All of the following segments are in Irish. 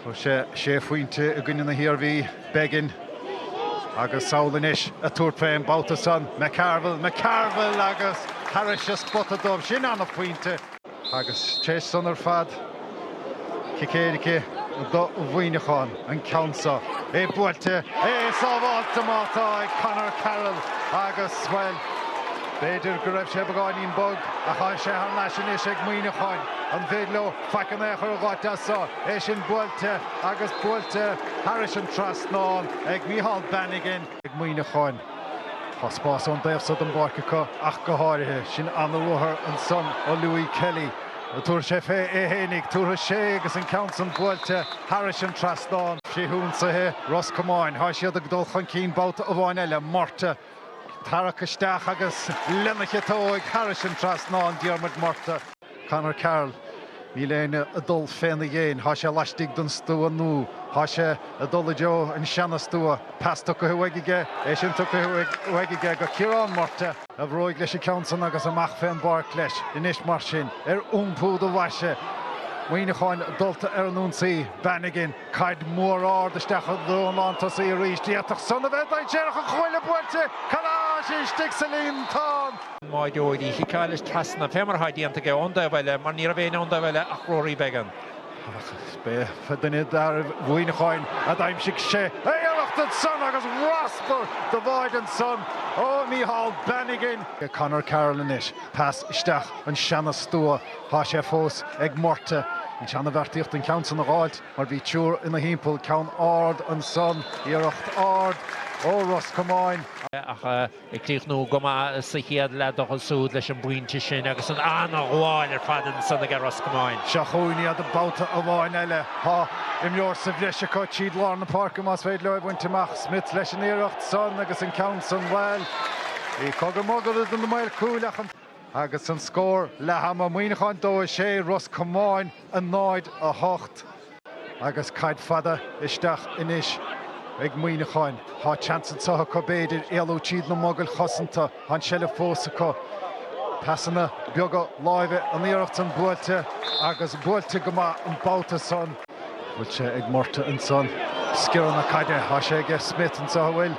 Fuair sé sé phointe i gcoinne na hIarmhí, Beggan agus samhail anois ag tabhairt fén mbabhta san, McCarville, McCarville agus thairis an spota dubh, sin an-phointe. Agus théis san ar fad, cic éirice do Mhuineachán, an ceann seo, é buailte, é sábháilte má tá ag Conor Carroll agus, bhuel, b'fhéidir go raibh sé beagáinín bog ach tá sé thar n-ais anois ag Muineacháin, an féidir leo? Faic in aon chor a dh'fháilt as so, é sin buailte agus buailte thairis an trasnán ag Micheál Bannigan. Ag Muineacháin. Tá spás ón dtaobh so don bpáirc acu ach go háirithe. Sin an-ruathar ansan ó Louis Kelly. Tabharfaidh sé fé é fhéinig. Tabharfaidh sé agus an ceann san buailte thairis an trasnán. Frithionsaithe Ros Comáin. Tá siad ag dul chun cinn babhta amháin eile, Murtagh. Tarrac isteach agus lena chiotóig thairis an trasnán Diarmuid Murtagh. Conor Carroll, níl éinne ag dul féna dhéin. Thá sé laistigh den stua nú thá sé ag dul i dtreo an seana stua. Pas tugtha uaidh aige, é sin tugtha uaidh aige go Ciarán Murtagh. A bhruaigh leis an ceann san agus amach fén bpáirc leis anois mar sin. Ar iompú do bhaise, Muineacháin dulta ar an ionsaí. Bannigan. Caid mhór ard isteach don lántosaí arís. D'fhéadfadh san a bheith dainséarach ach cúl é buailte thar n-ais istigh sa líontán. B'fhearra dó í chiceáil leis trasna. Fé mar atá déanta aige ón dtaobh eile mar ní raibh éinne ón dtaobh eile ach Rory Beggan. Ach is b'é duine d'fhearaibh Mhuineacháin a d'aimsigh sé iarracht ard ansan agus raspar do bháide ansan ó Micheál Bannigan. Conor Carroll anois. Pas isteach an seana-stua. Tá sé fós ag Murtagh. An tseana-bheartaíocht an ceann san a dh'fháilt mar bhí triúr ina thimpeall, ceann ard ansan, iarracht ard ó Ros Comáin, ach ag críochnú go maith sa chéad leath dócha súd leis an bpointe sin agus an an-ghabháil ar fad ansan aige Ros Comáin. Seo chugainn iad babhta amháin eile. Tá imreoir sa bhreis acu tríd lár na páirce más féidir leo é bhaint amach. Smith leis an iarracht san agus an ceann san, bhuel, bhí cogar mogar idir na maoir chúil ach an. Agus an scór, leath ama Muineacháin 2, 6, Ros Comáin 0, 8. Agus caid fada isteach anois ag Muineacháin, thá seans anseo acu b'fhéidir éalú tríd na mogaill chosanta, thá an seilbh fós acu. Pasanna beaga láimhe an iarracht san buailte agus buailte go maith an babhta san. Bhfuil sé ag Murtagh ansan. Sciorradh na caide. Thá sé aige Smith anso an bhfuil.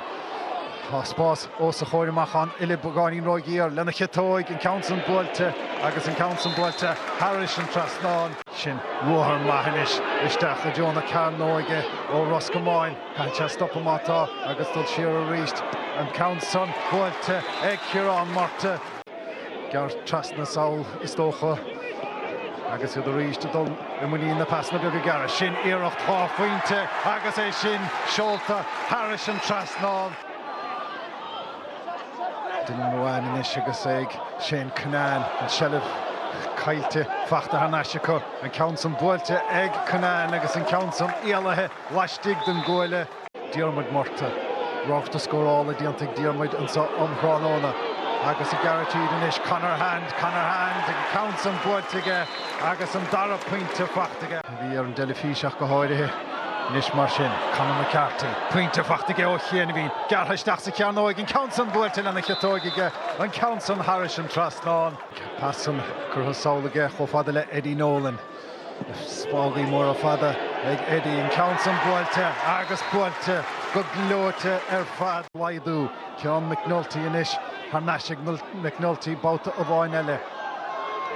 Thá spás os a chomhair amach an uille beagáinín ró-ghiar lena chiotóig. An ceann san buailte agus an ceann san buailte thairis an trasnán. Sin ruathar maith anois isteach i dtreo na cearnóige ó Ros Comáin. Caithfidh sé stopadh má tá agus dul siar aríst. An ceann san buailte ag Ciarán Murtagh. Gearrtha trasna sall, is dócha, agus iad arís ag dul i muinín na bpasanna beaga gearra. Seo iarracht dhá phointe agus é sin seolta thairis an trasnán. Dylan Ruane anois agus é ag Shane Cunnane. An seilbh caillte, fachta thar n-ais acu. An ceann san buailte ag Cunnane agus an ceann san éalaithe laistigh den gcuaille. Diarmuid Murtagh. Ráchairt scórála déanta ag Diarmuid anseo um thráthnóna agus ag gearradh tríd anois Conor Hand, Conor Hand agus an ceann san buailte aige agus an dara pointe faighte aige. Bhí ar an dteilifís ach go háirithe. Anois mar sin, Conor McCarthy, pointe faighte aige ó chianaibhín, gearrtha isteach sa chearnóig, an ceann san buailte lena chiotóig aige, an ceann san thairis an trasnán. Pas san curtha sall aige chomh fada le Eddie Nolan. Spágaí móra fada ag Eddie, an ceann san buailte agus buailte go gleoite ar fad. Aidhiú téann McNulty anois thar n-ais ag McNulty babhta amháin eile.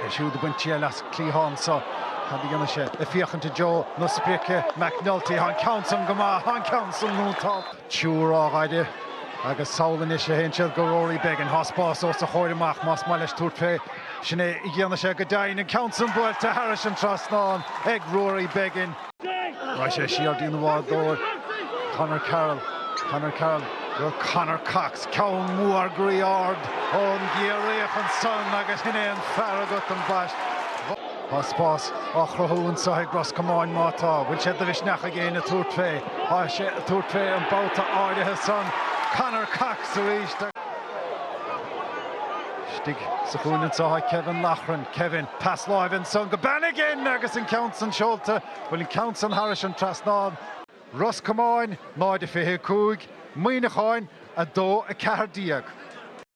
É siúd ag baint triail as an cliathán seo. Cad a dhéanfaidh sé? Ag féachaint i dtreo na sprice, McNulty, tá an ceann san go maith, tá an ceann san iontach! Tabhair aire agus sall anois a théann siad go Rory Beggan. Tá spás os a chomhair amach más maith leis tabhairt fé. Sin é a dhéanfaidh sé go deimhin. An ceann san buailte thairis an trasnán ag Rory Beggan. Raghaidh sé siar dtína bhádóir Conor Carroll. Conor Carroll go Conor Cox. Ceann mór groí ard ón gCiarraíoch ansan agus sin é an fear agat, an bhaist. Tá spás á chruthú anseo ag Ros Comáin má tá, bhfuil sé de mhisneach ag éinne tabhairt fé? Tá sé ag tabhairt fé an babhta áirithe san. Conor Cox arís agus. Istigh sa chúinne anseo tá Kevin Loughran. Kevin, pas láimhe ansan go Bannigan agus an ceann san seolta. Bhfuil an ceann san thairis an trasnán. Ros Comáin 0, 25, Muineachán 2, 14.